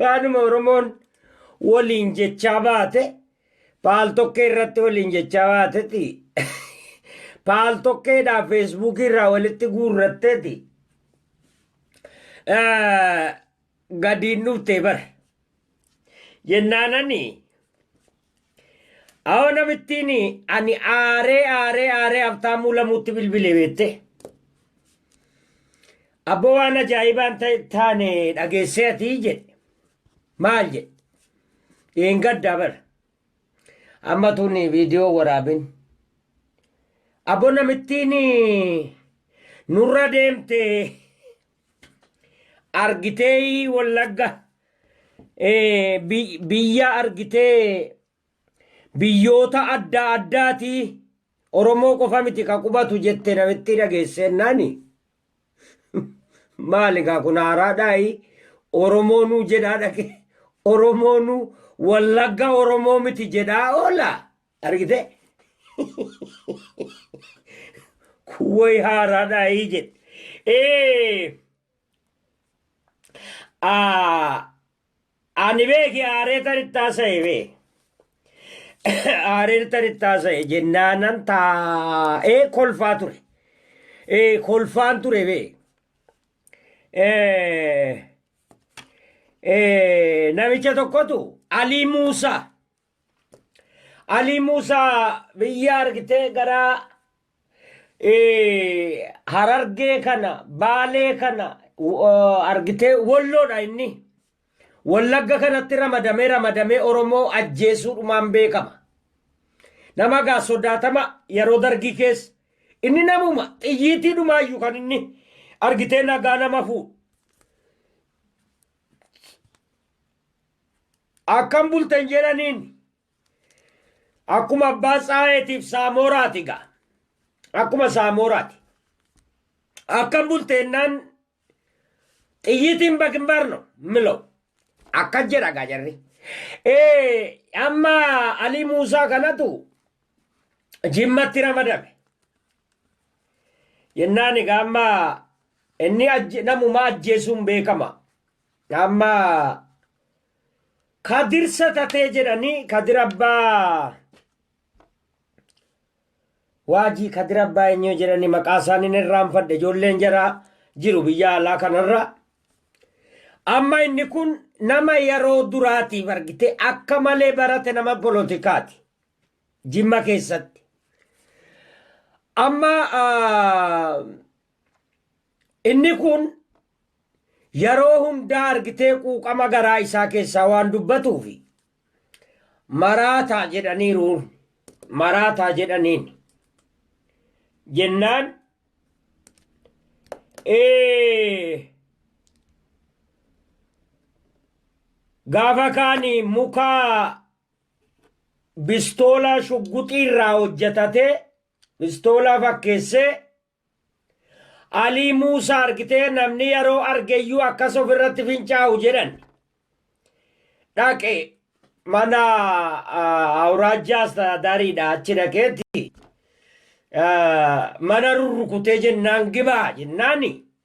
Waanuma Oromoon waliin jechaa baate paal tokkee irratti waliin jechaa baateti. Paal tokkeedhaa feesbuukii irraa walitti guurratteeti. Gadiin dhuftee bara. Jennaanani Awo namittiin ani aaree aaree aaree Habtaamuu Lamuutti bilbile beette. Abbo waan ajaa'ibaan taane dhageessee ati jedhe. Maal jedhe? Dhiin gaddaa bara. Amma tuni viidiyoo waraabin. Abbo namittiin nurra deemte argitee wallagga eh, bi- biyya argitee biyyoota adda addaati oromoo qofa miti ka qubatu jette namitti dhageesseennaani maali kaa kun haaraadhaayi oromoonuu jedhaa dhage oromoonuu wallagga oromoo miti jedhaa oola argite kuwway haaraadhaa hii jedhe ee aa ani beeki aaree tarittaa sa'e bee aaree tarittaa sa'e jennaanan taa'ee kolfaa ture ee kolfaan ture bee ee ee namicha tokkotu alii muusaa Alii Muusaa biyya argitee gara eh, Harargee kana, Baalee kana eh, argitee Wolloodha inni. Wallagga kanatti ramadamee ramadamee Oromoo ajjeesuudhumaan beekama. Nama gaa sodaatama yeroo dargii keessa. Inni namuma xiyyiitii dhumaayyu kan inni argitee nagaa nama fuudhu. Akkam bultan jedhaniin. Akkuma abbaa Tsaayeetiif Saamooraati gaa. Akkuma Saamooraati. Akkam bulte ennaan xiyyiitiin baginbaar no milow. Akkas jedha gaa jarri. Ee amma Alii Muusaa kanatu jimmatti ramadame. Jennaan egaa amma inni ajje- namuma ajjeesuun beekama. Amma kadir sa tatee jedhani kadir abba waajii kadir abbaa eenyuu jedhani maqaa isaaniin irraanfadhe ijoolleen jara jiru biyya alaa kanarra amma inni kun nama yeroo duraatiif argite akka malee barate nama polotikaati jimma keessatti amma ah, Inni kun yeroo hundaa argitee quuqama garaa isaa keessaa waan dubbatuufi maraataa jedhaniiruun maraataa jedhaniin jennaan gaafa kaani mukaa bistoolaa shugguxii irraa hojjetatee bistoolaa fakkeessee Alii Muusaa argitee namni yeroo argeyyuu akkas ofirratti fincaa'u jedhan. Dhaqe mana awuraajjaa astadaariidha achi dhaqeetti mana rurrukutee jennaan gibaa jennaani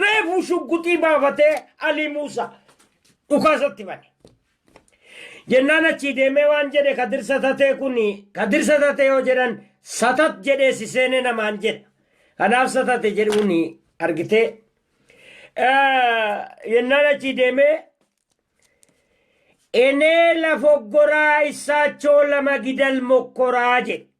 Reefuu shugguxii baafatee Alii Muusa dhukaasatti bane. Jennaan achii deemee waan jedhe Kadir Satatee kun Kadir Satatee yoo jedhan Satat jedhee si seene namaan jedha. Kanaaf Satate jedhuun argitee. Jennaan achii deemee Enee lafoggoraa issaachoo lama gidal mokkoraa jedhe.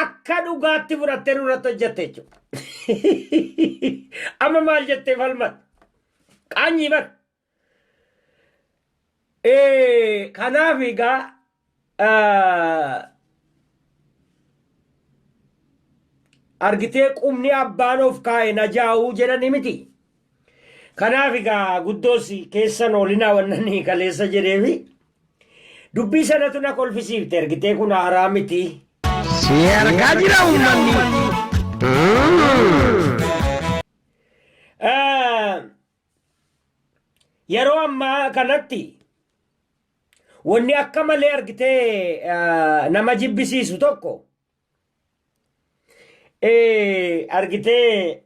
akka dhugaatti fudhattee nurratti hojjette jechuudha. Amma maal jettee falmat? Qaanyii bar. Kanaaf egaa argitee qubni abbaan of kaa'e na jaa'uu jedhani miti. Kanaaf egaa guddoos keessan oolinaa wannanii kaleessa jedheefi Dubbii sanatu na kolfisiifte ergitee kun haaraa miti. Si argaa jira uummanni. Ah, Yeroo ammaa kanatti wanni akka malee argitee ah, nama jibbisiisu tokko eh, argitee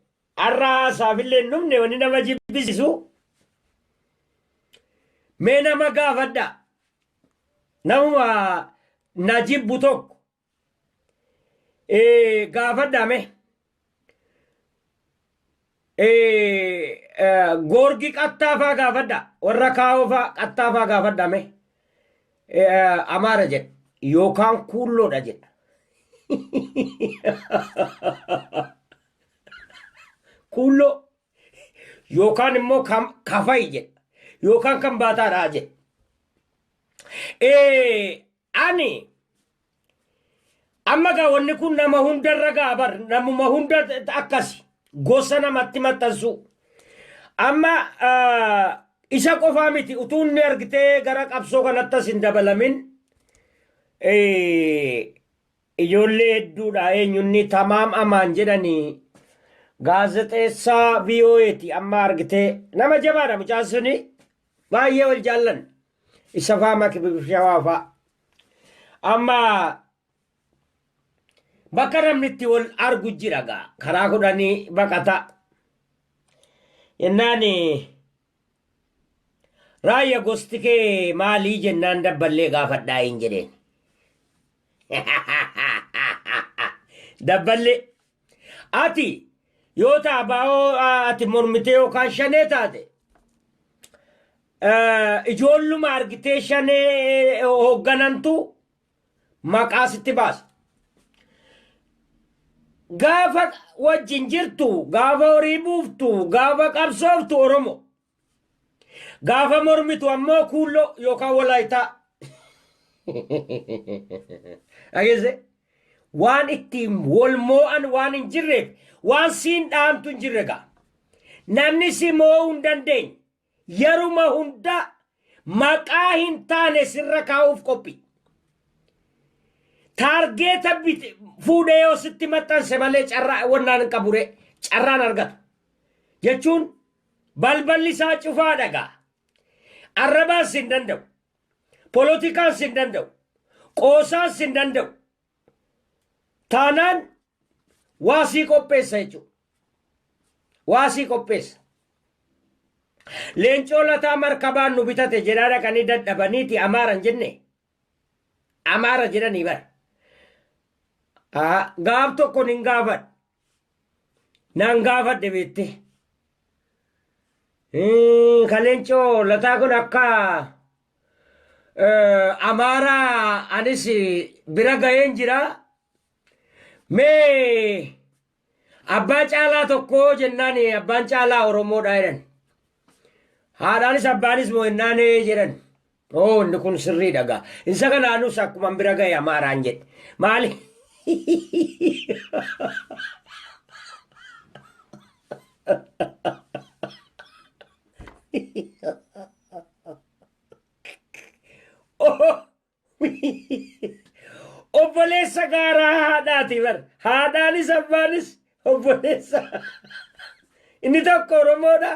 Arra haasaafillee hin dhumne wanni nama jibbisisu mee nama gaafadha namuma na jibbu tokko eh, gaafadha mee eh, eh, goorgi qattaafaa gaafadha warra kaawofaa qattaafaa gaafadha mee eh, amaara jedha yookaan kuulloodha jedha Kuulloo yookaan immoo kan kafayi jedha yookaan kan baataadhaa jedha. Ee, Ani amma gaa wanni kun nama hundarra gaa bar namuma hunda akkasi gosa namatti maxxansuu. Amma ah, isa qofaa miti utuu inni argitee gara qabsoo kanatti as hin dabalamin eh, Ijoollee hedduudha eenyunni Tamaam Amaan jedhani gaazexeessaa VOA ti amma argitee nama jabaadha mucaan suni baay'ee wal jaallan isa faa makibib shawaa faa amma bakka namni itti wal argu jira gaa karaa kudhanii baqata jennaan Raayya gosti kee maalii jennaan dabballee gaafadhaa hin jedheen. Dabballee ati yoo ta'a baa'oo ati mormitee yookaan shanee taate ijoolluma argitee shanee hoogganantu maqaa sitti baasa. Gaafa wajjin jirtu, gaafa horii buuftu, gaafa qabsooftu Oromo. Gaafa mormitu ammoo kuulloo yookaan walaayitaa. Dhageesse? Waan ittiin wal moo'an waan hin jirreef waan siin dhaantu hin jirre gaa. Namni si moo'uu hin dandeenye. Yeruma hundaa maqaa hin taane sirra kaa'uuf qophi. Taargeeta bite fuudhee yoo sitti maxxanse malee carraa wannaan hin qabure carraan argatu. Jechuun balballi isaa cufaa dhagaa. Arrabaan sin danda'u. Polotikaan sin danda'u. Qoosaan sin danda'u. taanaan waa sii qopheessa jechuudha. Waa sii qopheessa. Leencoo lataa markabaan nu bitate jedhaa dhaqanii dadhabaniiti amaara hin jenne. Amaara jedhanii bara. Aa, Gaaf tokko nin gaafadha. Naan gaafadhe beette. Kaleencoo lataa kun akka amaaraa anis bira ga'een jira. Mee abbaa caalaa tokkoo jennaan abbaan caalaa Oromoodha jedhan. Haadhaanis abbaanis moo jennaan jedhan. Oo inni kun sirrii dhagaa. Isa kana anus akkuman bira ga'e amaaraan jedhe. Maali? Obboleessa gaaraa haadhaati bar. Haadhaanis abbaanis obboleessa. Inni tokko Oromoodha.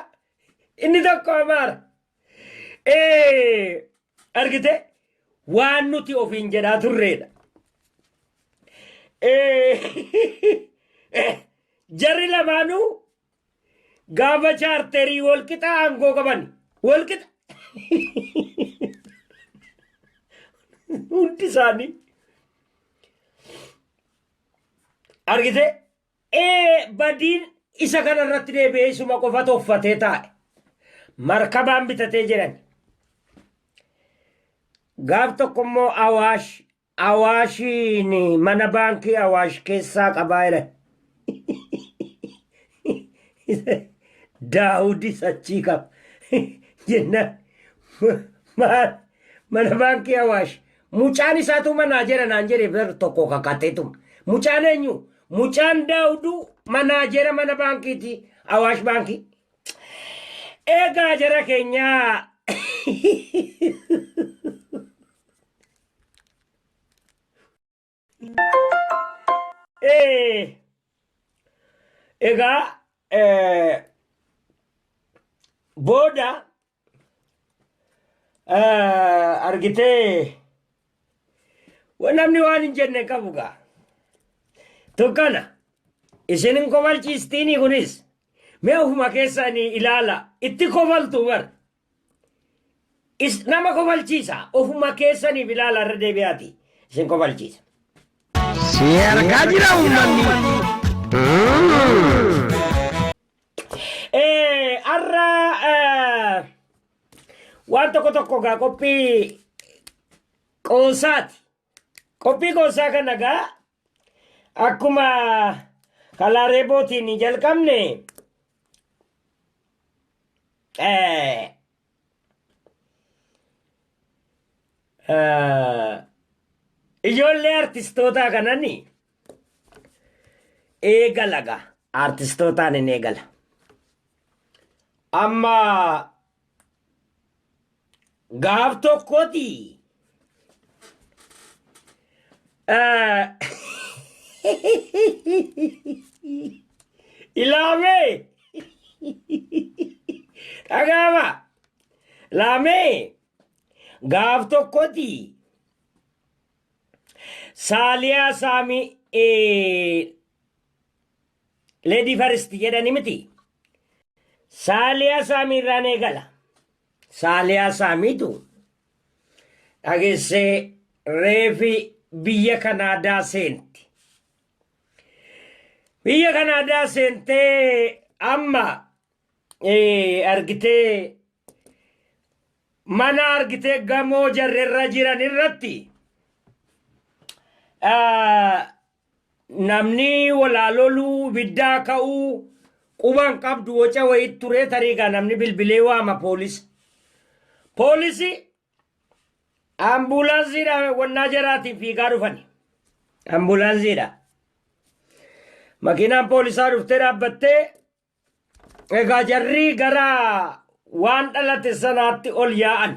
Inni tokko Amaara. Eh, argite waan nuti ofiin jedhaa turreedha. Eh, eh, jarri lamaanuu gaafa chaarterii walqixa aangoo qaban walqixa hundi isaanii argite Ee, badiin isa kana irratti deebi'ee isuma qofa toffatee taa'e. Markabaan bitatee jedhan. Gaaf tokko immoo Awaash, Awaashiin mana baankii Awaash keessaa qabaa jedhan. Daawudis achii qaba. Jennaan maal mana baankii Awaash Mucaan isaatu manaa jera naan jedhe bar tokko kakateetuma. Mucaan eenyu? Mucaan daawudu manaa jera mana baankiiti awaash baankii. Eegaa jara keenyaa. Egaa booda argitee namni waan hin jenne qabu gaa. Tokkana isin hin kofalchiistiinii kunis mee ofuma keessanii ilaala itti kofaltu bar Is nama kofalchiisa. Ofuma keessaniif ilaala irra deebi'aati. Isin kofalchiisa. Si argaa jira uummanni. Eh, Har'a eh, waan tokko tokko gaa qophii qoosaati. Qophii qoosaa kana gaa Akkuma kalaa reebootiin jalqabne eh, eh, ijoollee artistootaa kanani eegalaga artistootaan hin eegala. Amma Gaaf tokkoti ilaamee dhagaama laamee gaaf tokkoti saaliyaa saamii Lady First jedhani miti. Saaliyaa Saamii irraan eegala. Saaliyaa Saamiitu dhageessee reefi biyya Kanaadaa seenti. Biyya Kanaadaa seentee amma argitee mana argitee gamoo jarrerra jiran irratti Namni walaa loluu, ibiddaa ka'uu, quba hin qabdu woca wayii turee tarii gaa namni bilbilee waama poolisa. Poolisi ambuulaansiidha wannaa jaraatiin fiigaa dhufani. Ambuulaansiidha. Makiinaan poolisaa dhuftee dhaabbattee Egaa jarri gara waan dhalate sanaatti ol yaa'an.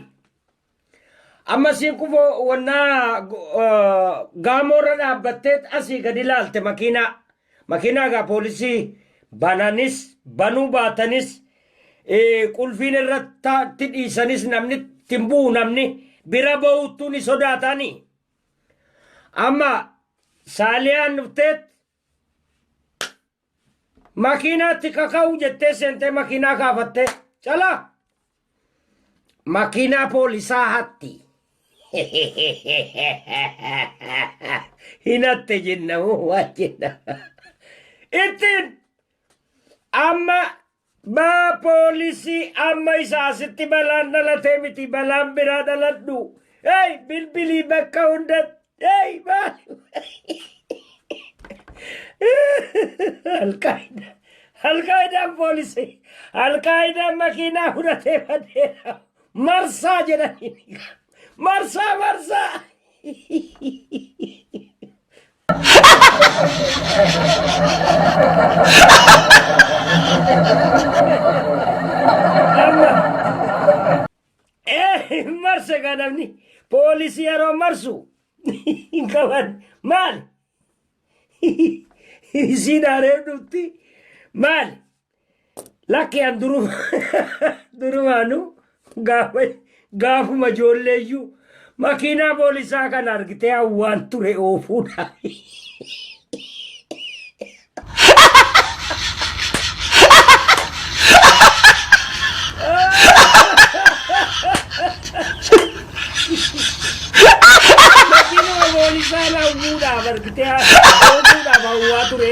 Amma siin kufoo wannaa gaamoorra dhaabbattee asii gadi ilaalte makiinaa. Makiinaa egaa poolisii bananis banuu baatanis qulfiin irratti dhiisanis namni ittiin bu'u namni bira ba'uuttuu ni sodaataani. Amma saaliyaan dhufteet Makiinaatti kaka'u jettee seentee makiinaa gaafattee calaa makiinaa poolisaa hatti. Hinatte jenna moo waa jenna. Ittiin amma Baa poolisii amma isa asitti balaan dhalatee miti balaan biraa dhaladhu. Hey bilbilii bakka hunda hey Alqaayidaa Alqaayidaan poolisii Alqaayidaan makiinaa fudhatee badeera marsaa jedhanii marsaa marsaa Eh, marse ka namni poolisii yeroo marsu hin qaban maal isiin hareef dhufti maal Lakki an duruma durumaanu gaafa gaafuma ijoolleeyyuu makiinaa poolisaa kan argitee hawwaan ture oofuudha. Makiinuma poolisaa hawwuudhaaf argitee oofuudhaaf hawwaa ture.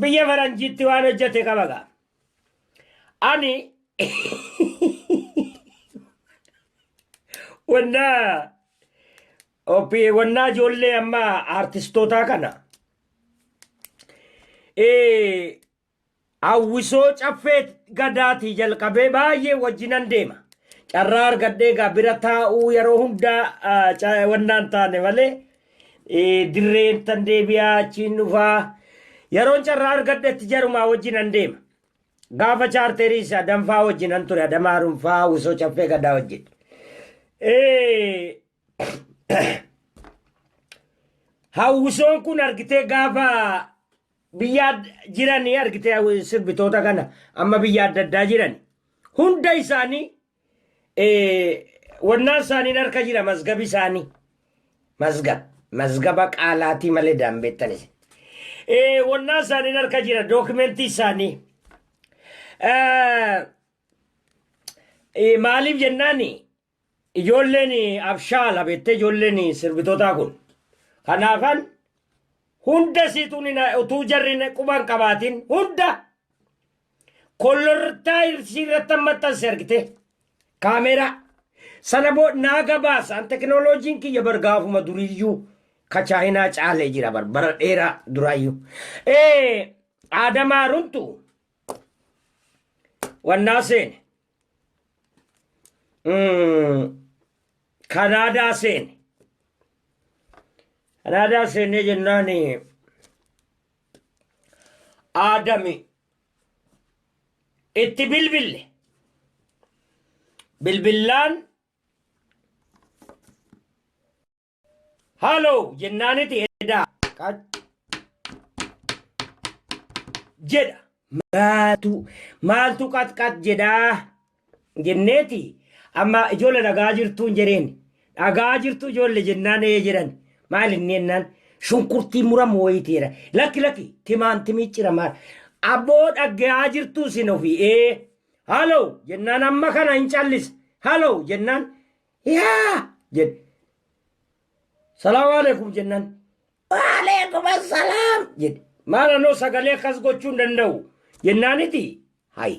biyya faranjiitti waan hojjete qaba gaa ani wannaa Opi- wannaa ijoollee amma aartistootaa kana eh, hawwisoo caffee gadaatii jalqabee baay'ee wajjinan deema carraa argadhee gaa bira taa'uu yeroo hundaa ah, ca- wannaan taane malee Eh, Dirreen tan deebi'aa achiin dhufaa. Yeroon carraa argadhetti jarumaa wajjin an deema. Gaafa chaarteeriis adanfaa wajjin an ture adamaa runfaa usoo caffee gadaa wajjin. Eh, hawwisoon kun argitee gaafa biyya ad- jiranii argitee hawwi- sirbitoota kana amma biyya adda addaa jiran hunda isaanii wannaan isaaniin harka jira mazgabi isaanii mazgab mazgaba qaalaatii malee daanbeettan isin wannaan isaaniin harka jira dookimentii isaanii maaliif jennaan ijoolleen abshaala beettee ijoolleen sirbitootaa kun kanaafan hunda siituun utuu jarri quban qabaatiin hunda kollortaa irsii irratti maxxanse argite kaameeraa sana boo naa gabaasaan tekinooloojiin kiyya bar gaafuma duriyyuu ka chaayinaa caalee jira bar bara dheeraa duraayyuu ee aadamaa runtu wannaa seene Mm, kanaadaa seene kanaadaa seenee jennaan Aadami itti bilbille. Bilbillaan haaloo jennaaniti edaa jedha. Maatu maaltu qaxqax jedhaa jenneeti amma ijoollee dhagaa jirtuun jedheen dhagaa jirtu ijoollee jennaan ee jedhan maal inni jennaan shunkurtii muramu wayitiidha lakki lakki timaantimii ciramaa abboo dhagge'aa jirtuu isin ofii ee halo jennaan amma kana hin callisa halo jennaan yaa jedhe salaamu alaikum jennaan waalaikum assalaam jedhe maal anoo sagalee akkas gochuu hin danda'u jennaaniti hayi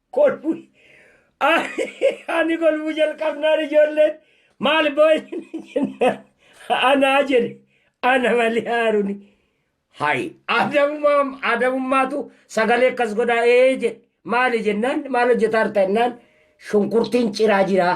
kolfu ani kolfu jalqabnaan ijoolleen maal boo'in jennaan anaa jedhe ana malee haaruni hayi adamummaa adamummaatu sagalee akkas godhaa ee jedhe maali jennaan maal hojjetaa jirta jennaan shunkurtiin ciraa jiraa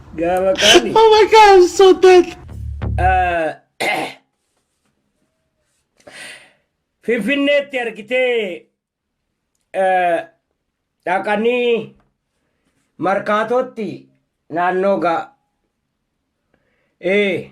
Gaafa kaani. Oh my god, I'm so dead. Finfinneetti argitee dhaqanii markaatootti naannoo gaa. Ee.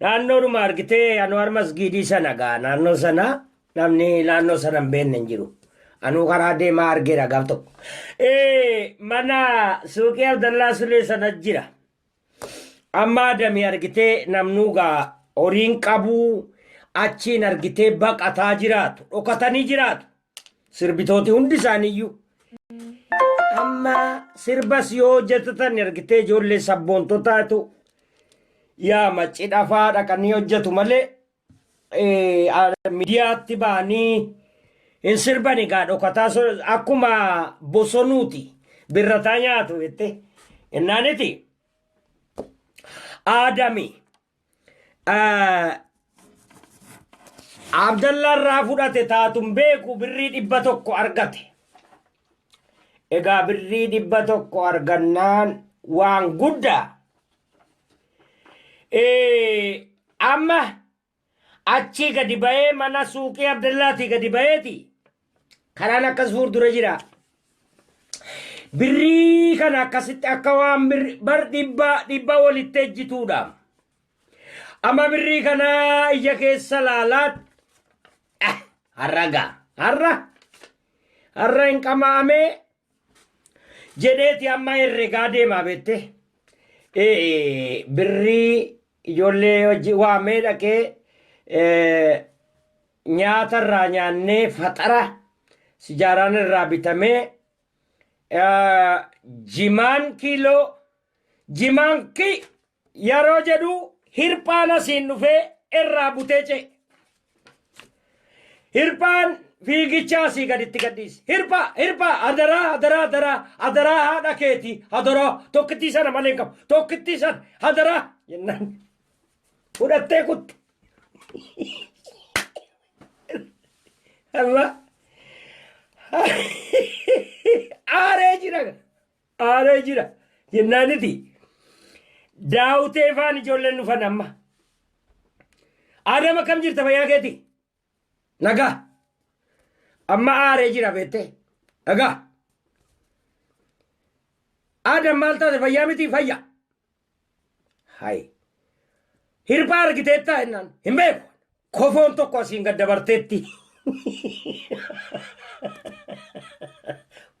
Naannoodhuma argitee Anwaar Masgiidii sana gaa naannoo sana namni naannoo sana hin beekne hin jiru. Anuu karaa deemaa argeera gaaf tokko. Eh, Mana suuqii Abdallaa Sulee sana jira. Amma adamii argitee namnuu gaa horiin qabuu achiin argitee baqataa jiraatu. Dhokatanii jiraatu. Sirbitooti hundi isaaniiyyuu. Amma sirbas yoo hojjetatan ergitee ijoollee sabboontotaatu yaa macci dhafaa dhaqanii hojjetu malee miidiyaatti ba'anii hin sirban egaa dhokataa akkuma bosonuuti birrataa nyaatu jettee innaaniti aadami. Abdallaa irraa fudhate taatun beeku birrii dhibba tokko argate. Egaa birrii dhibba tokko argannaan waan guddaa. Amma achii gadi ba'ee mana suuqii Abdallaatii gadi ba'eeti. Karaan akkas fuuldura jira. Birrii kana akkasitti akka waan birri- bar dhibba dhibba walitti ejjituudha. Amma birrii kana ija keessa laalaat Ah, har'a gaa har'a har'a hin qamaamee jedheeti amma herregaa deemaa beette. Eh, Birrii ijoollee hojii waamee dhaqee eh, Nyaata irraa nyaannee faxara sijaaraan irraa bitamee jimaan kiiloo jimaan ki yeroo jedhu hirphaan asiin dhufee irraa butee ce'e. Hirphaan fiigicha asii gaditti gadhiise. Hirphaa hirphaa adaraa adaraa adaraa adaraa haadha keeti adaraa tokkittii sana malee hin qabu tokkittii sana adaraa jennaan. fudhattee kuttu. Allah aaree jira aaree jira jennaaniti daawutee faan ijoolleen dhufan amma. Aadama kam jirta fayyaa keeti? Naga. Amma aaree jira beettee. Naga. Aadaan maal taate fayyaa miti fayya. Hayi. Hirphaa argiteettaa jennaan hin beeku. Kofoon tokko asiin gad dabarteetti.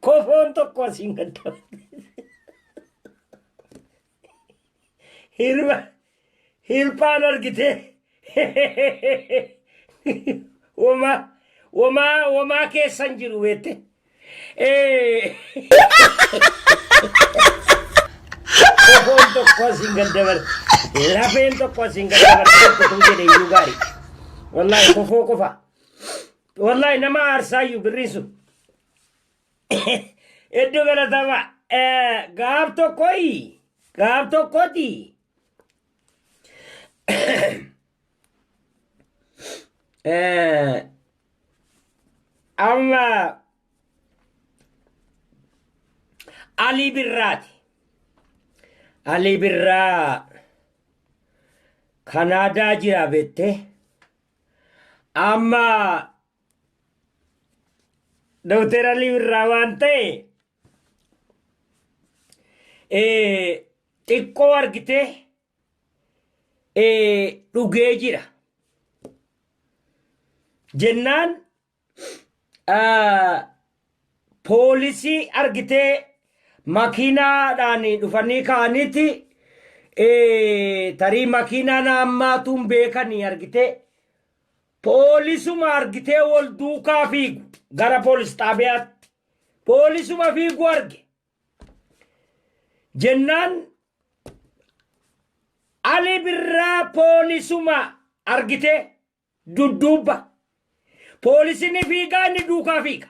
Kofoon tokko asiin gad dabarteetti. Hirma hirphaan argitee womaa womaa womaa keessan jiru beette. Kofoon tokko asiin gad dabala. Lafeen tokko asiin gad dabala. Tokko tuu jedhe iyyuu gaarii. Wallaahi kofoo qofa. Wallaahi nama aarsaayyuu birriin sun. Hedduu galatama. Eh, Gaaf tokkoyi. Gaaf tokkoti. Eh, Amma Alii Birraati. Alii Birraa Kanaadaa jira beettee. Amma Dooktar Alii Birraa waan ta'e eh, xiqqoo argitee eh, dhugee jira. Jennaan ah, poolisii argitee makiinaadhaan dhufanii ka'aniiti eh, tarii makiinaan hammaatuun beekanii argitee Poolisuma argitee wol duukaa fiigu gara poolis xaabiyaatti. Poolisuma fiigu arge. Jennaan Ali Birraa poolisuma argitee dudduubba. Poolisiin fiigaa inni duukaa fiiga.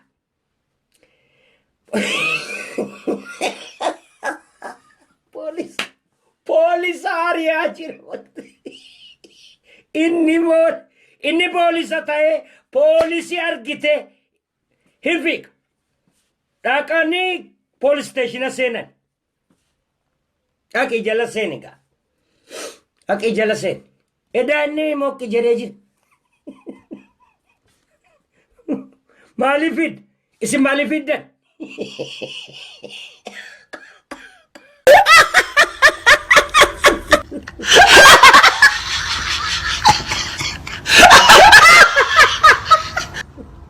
Poolis poolisa ari'aa jira. Inni moo inni poolisa ta'ee poolisi argite hin fiiga. Dhaqanii poolis isteeshina seenan. Dhaqi jala seeni gaa. Dhaqi jala seeni. Edaa inni mokki jedhee jira. Maaliif fidda? Isin maaliif fiddan?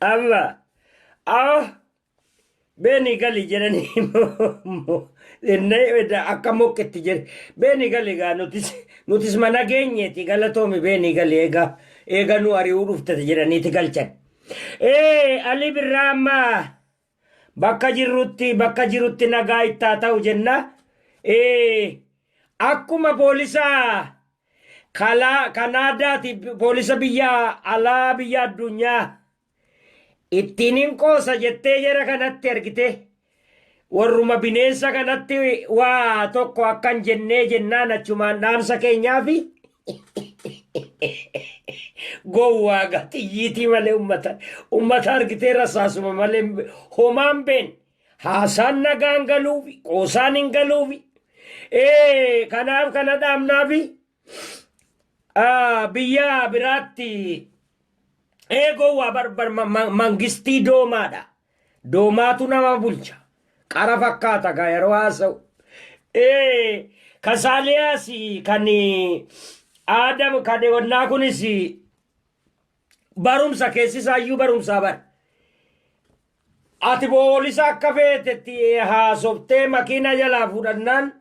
amma aho beeni gali jedhanii akka mokketti jedhe beeni gali egaa nutis nutis mana geenyeeti galatoomi beeni gali egaa eega nu ari'uu dhuftati jedhaniiti galchan. Ee alii birraa amma Bakka jirrutti bakka jirutti nagaa itti haa ta'u jenna. Akkuma poolisa Kanaadaati poolisa biyya alaa biyya addunyaa ittiin hin qoosa jettee jara kanatti argite warruma bineensa kanatti waa tokko akkan jennee jennaan achumaan dhaamsa keenyaa fi Gowwaa gaa xiyyiitii malee ummata ummata argitee rasaasuma malee homaan been haasaan nagaan galuufi qoosaan hin galuufi ee kanaaf kana dhaabnaafi ah, biyya biraatti ee gowwaa barbar mangistii doomaadha Doomaatu nama bulcha. Qara fakkaata gaa yeroo haasa'u. Ee, kan Saaliyaas kan Aadam kan wannaa kunis barumsa keessi isaayyuu barumsaa bara. Ati boolisa akka feetetti haasoftee makiina jalaa fudhannaan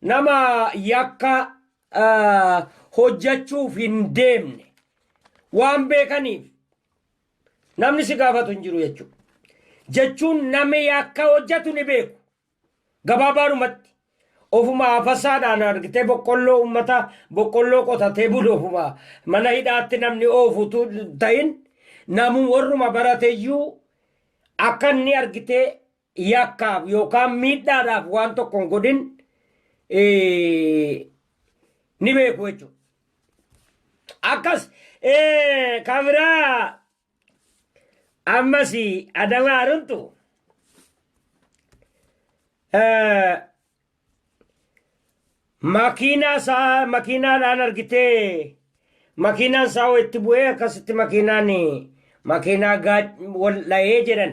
nama yakka ah, hojjechuuf hin deemne waan beekaniif Namni si gaafatu hin jiru jechuudha. Jechuun namni yakka hojjetu ni beeku. Gabaabaadhumatti ofuma afasaadhaan argitee boqqolloo ummata boqqolloo qotatee bulu ofuma mana hidhaatti namni oofutu ta'in namu warruma barateyyuu akka inni argitee yakkaaf yookaan miidhaadhaaf waan tokko hin godhin eh, ni beeku jechuudha. Akkas eh, kan biraa ammas adamaa runtu eh, makiinaa isaa makiinaadhaan argitee makiinaan isaa itti bu'ee akkasitti makiinaan makiinaa gaa- wal dha'ee jedhan.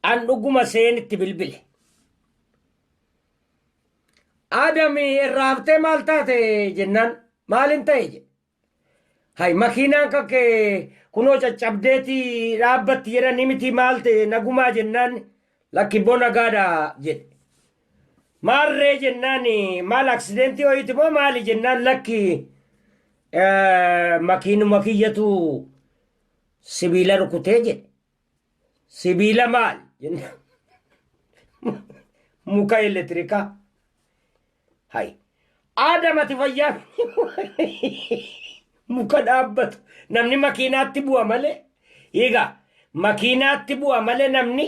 An dhuguma seen itti bilbile. Adami irraa haftee maal taate jennaan maalin ta'e jedhe. Hay makiinaan kan kee kunoo caccabdeeti dhaabbatti jedhanii miti maal ta'e nagumaa jennaan lakki bona gaadha jedhe. Maarree jennaan maal aksidentii ho'iiti moo maali jennaan lakki makiinuma kiyyatu sibiila rukutee jedhe. Sibiila maal? jennaan. Muka elektirikaa. Hayi. Aadam ati fayyaa muka dhaabbatu namni makiinaatti bu'a malee egaa makiinaatti bu'a malee namni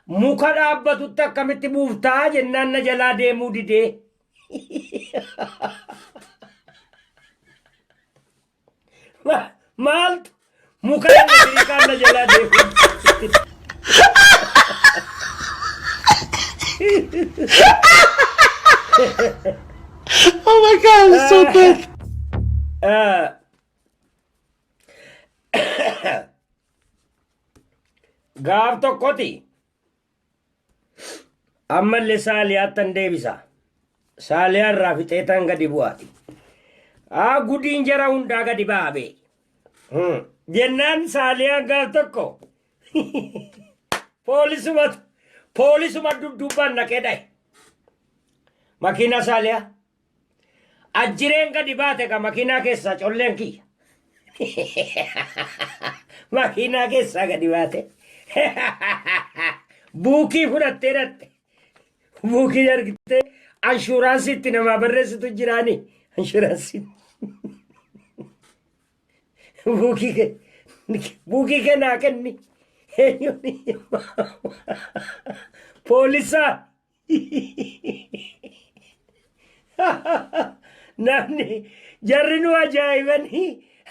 muka dhaabbatutti akkamitti buuftaa jennaan na jalaa deemuu didee. Ma- maaltu muka irra hiikaan na jalaa deemu Oh my god, it's so bad. Ah. gaaf tokkoti Ammallee saaliyaattan deebisa. Saaliyaa irraa fixeetan gadi bu'aati. Aa gudiin jara hundaa gadi ba'a bee. Hmm. Jennaan saaliyaan gaaf tokko poolisuma poolisuma dudduubbaan naqee dhaye. Makiinaa saaliyaa Ajjireen gadi baate ka makiinaa keessaa colleen kiyya. makiinaa keessaa gadi baate. Buukii fudhattee dhatte. Buukii argitee anshuuraansii itti namaa barreessitu jiraani. Anshuuraansii. Buukii kee. Buukii kee naa kenni. Poolisaa. namni jarri nu ajaa'ibanii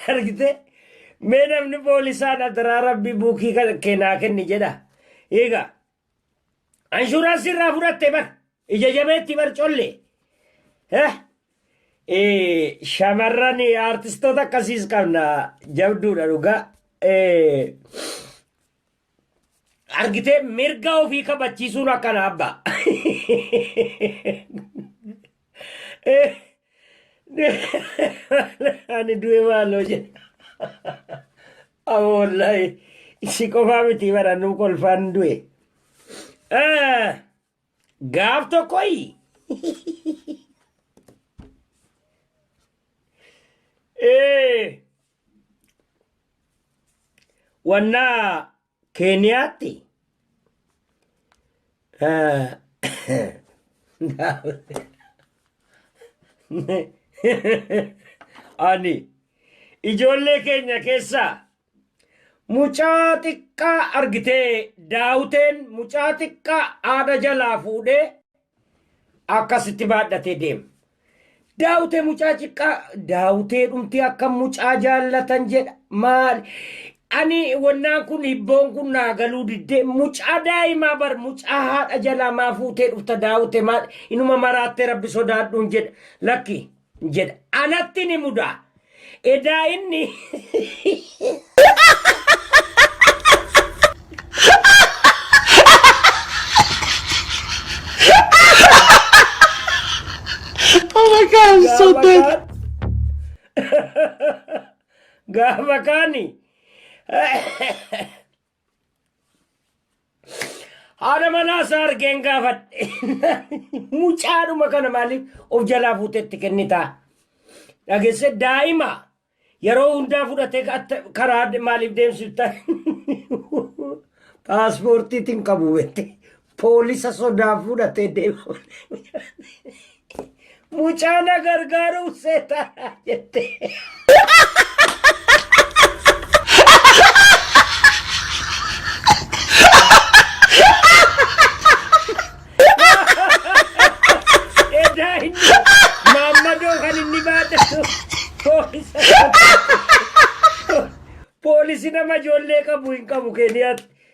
argite mee namni poolisaan adaraa rabbi buukii kan- keenaa kenni jedha eega anshuraansii irraa fudhatte bar ija jabeetti bar colle Eh, eh, shamarran aartistoota akkasiis qabna jabduudha dhugaa Eh, argitee mirga ofii kabachiisuun akkana abba ani du'e maaloo jedha amma wallaahi si qofaa miti bara nu kolfaan du'e Ah! Gaaf tokkoyi. Ee. Wannaa Keeniyaatti. Ani ijoollee keenya keessaa Mucaa xiqqaa argitee daawuteen mucaa xiqqaa haadha jalaa fuudhee akkasitti baadhatee deema. Daawutee mucaa xiqqaa daawutee dhumtee akka mucaa jaallatan jedha maal ani wannaan kun hibboon kun naa galuu diddee mucaa daa'imaa bar mucaa haadha jalaa maa fuutee dhufta daawute maal inuma maraattee rabbi sodaadhuun jedha lakki jedha. Anatti ni muda. Edaa inni Oh my god, I'm so gaafa dead. kaan gaafa kaani Haadha manaa isaa argeen gaafadhe. Mucaadhuma kana maaliif of jalaa fuutetti kennitaa? Dhageesse daa'ima yeroo hundaa fudhatee atta- karaa de- maaliif deemsifta? Paaspoortiitiin qabu beekte. Poolisa sodaa fudhatee deemu. Mucaa na gargaaruun seetaadha jette. Edaa inni maammadoo kan inni baadhatu poolisa sodaa. Poolisi nama ijoollee qabu hin qabu Keeniyaatti.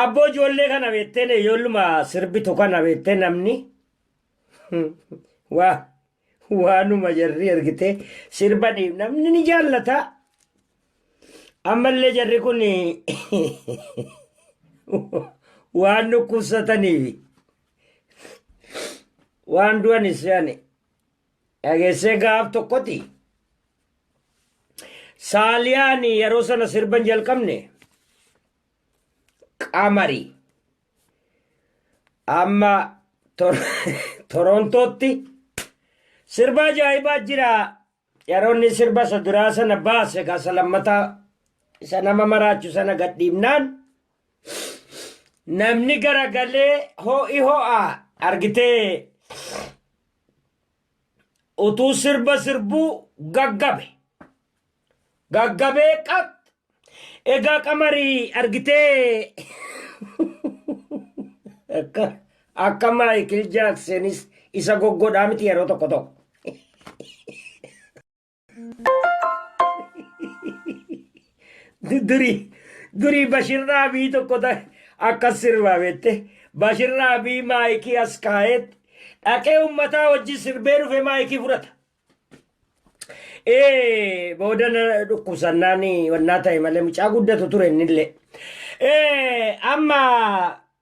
Abboo ijoollee kana beekteen ijoolluma sirbitu kana beektee namni waa waanuma jarri ergitee sirba dhiib namni ni jaallata. Ammallee jarri kun waan dhukkubsataniif waan du'anis yaani Dhageessee gaaf tokkoti Saaliyaan yeroo sana sirban jalqabne qamari amma Tor- Torontootti sirba ajaa'ibaa jira. Yeroo inni sirba isa duraa sana baase gasa lammataa isa nama maraachu sana gadhiifnaan Namni garagalee ho'i ho'a argitee utuu sirba sirbuu gaggabe. Gaggabee qat egaa qamarii argitee akka akka Maayikil Jaaksenis isa goggodhaa miti yeroo tokko tokko. durii durii bashirraa bii tokko ta- akkas sirbaa beette bashirraa bii maayikii as kaa'eet dhaqee ummataa wajjin sirbee dhufe maayikii fudhata. Ee booda na dhukkubsannaan wannaa ta'e malee mucaa guddatu ture innillee. Ee amma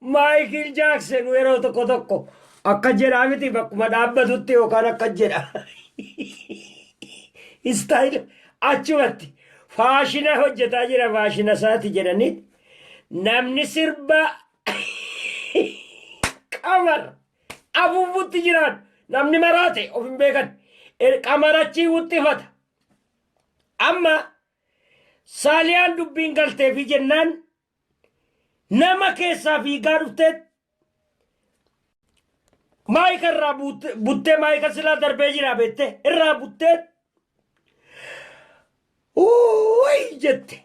Maayikil Jaaksen yeroo tokko tokko akka jedhaa miti bakkuma dhaabbatutti yookaan akka jedha. Istaayila achumatti faashina hojjetaa jira faashina isaati jedhanii namni sirba qamar afuufutti jiraan namni maraate of hin beekan Er- qamar achii wuxxifata Amma Saaliyaan dubbiin galteefi jennaan nama keessaa fiigaa dhuftee maayika irraa buut- buttee maayika silaa darbee jira beette irraa buttee uuwway jette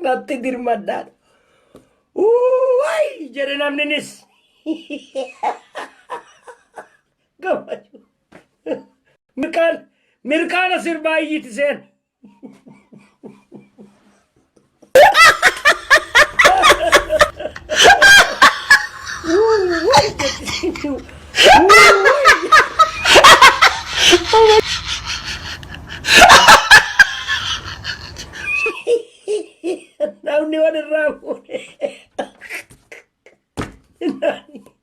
natti dirmadhaan uuwway jedhe namninis Mirqaan mirqaana sirbaa iyyiti seen. Namni wal irraa fuudhe.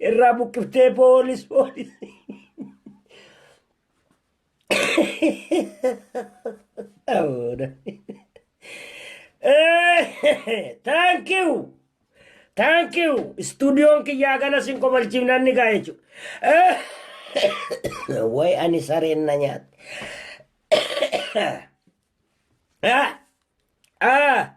irraa buqqiftee poolis poolis. Thank you. Thank you. Studiyoon kiyyaa ganas hin kobalchiifnan ni gaa jechuudha. Way ani sareen na nyaate. Ah! Ah!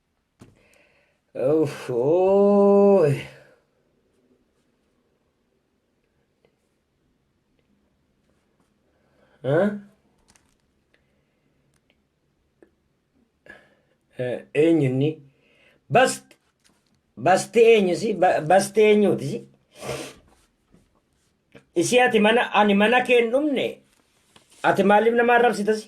Uff, ooy. Huh? Eh, eenyu inni? Bast, basti eenyu si? Ba- Basti eenyuuti si? Isii ati mana, ani mana kee hin dhumne? Ati maaliif nama arrabsita si?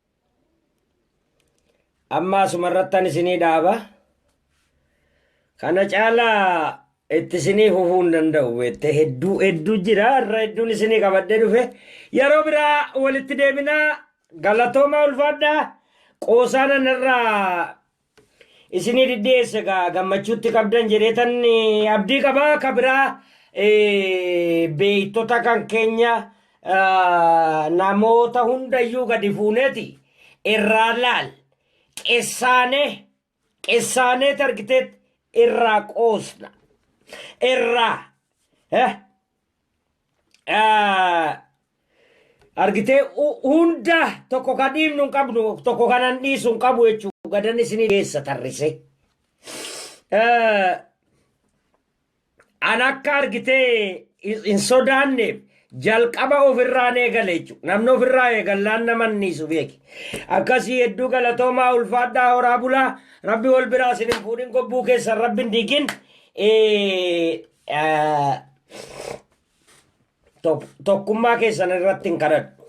Amma asumarrattan isinii dhaaba. Kana caalaa itti isinii fufuu hin danda'u beektee hedduu hedduu jira irra hedduun isinii qabadhee dhufe yeroo biraa walitti deebinaa galatoomaa ulfaadhaa qoosaana narraa Isinii dhidhiyeesse gaa gammachuutti qabdan jedheetan abdii qaba ka biraa beektota kan keenya namoota hundayyuu gadi fuuneeti irraa laal qessaanee qessaanee targiteet irraa qoosna irraa argitee hunda tokko kan dhiibnu hin qabnu tokko kanan dhiisu hin qabu jechuudha gadan isinii geessa tarrise. An akka argitee hin sodaanneef jalqaba ofirraan eegale jechuudha. Namni ofirraa eegallaan nama anniisu beeki. Akkasii hedduu galatoomaa ulfaadhaa horaa bulaa rabbi wal biraa isin hin fuudhin gobbuu keessan rabbi hin diigin. Eh, tok- tokkummaa keessan irratti hin kadhadhu.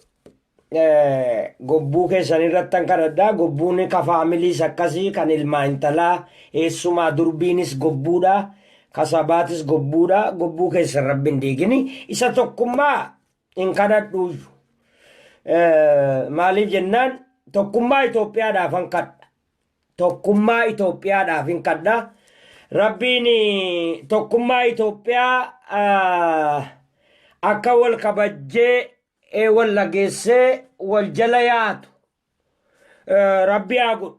Eh, gobbuu keessan irratti hin kadhadha. Gobbuun ka faamiliis akkasii kan ilmaa intalaa eessumaa durbiinis gobbuudha. Ka sabaatis gobbuudha. Gobbuu keessan rabbi hin diigini. Isa tokkummaa hin kadhadhu. Eh, maaliif jennaan tokkummaa Itoophiyaadhaaf hin kadha. tokkummaa Itoophiyaadhaafin kadha. Rabbiin tokkummaa Itoophiyaa akka wal kabajjee wal dhageessee wal jala yaatu rabbi haa godhu.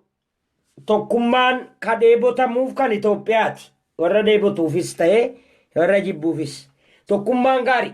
Tokkummaan ka dheebotamuuf kan Itoophiyaati. Warra dheebotuufis ta'ee warra jibbuufis. Tokkummaan gaarii.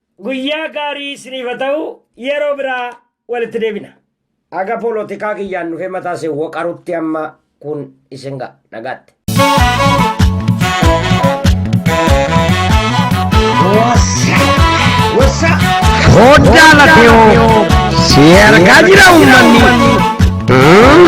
Guyyaa gaarii isiniif haa ta'u yeroo biraa walitti deebina. Haga poolotikaa kiyyaan dhufee mataa isin waqarutti amma kun isin ga'a nagaatti. Hoddaa lafeewoo si ergaa jira uummanni.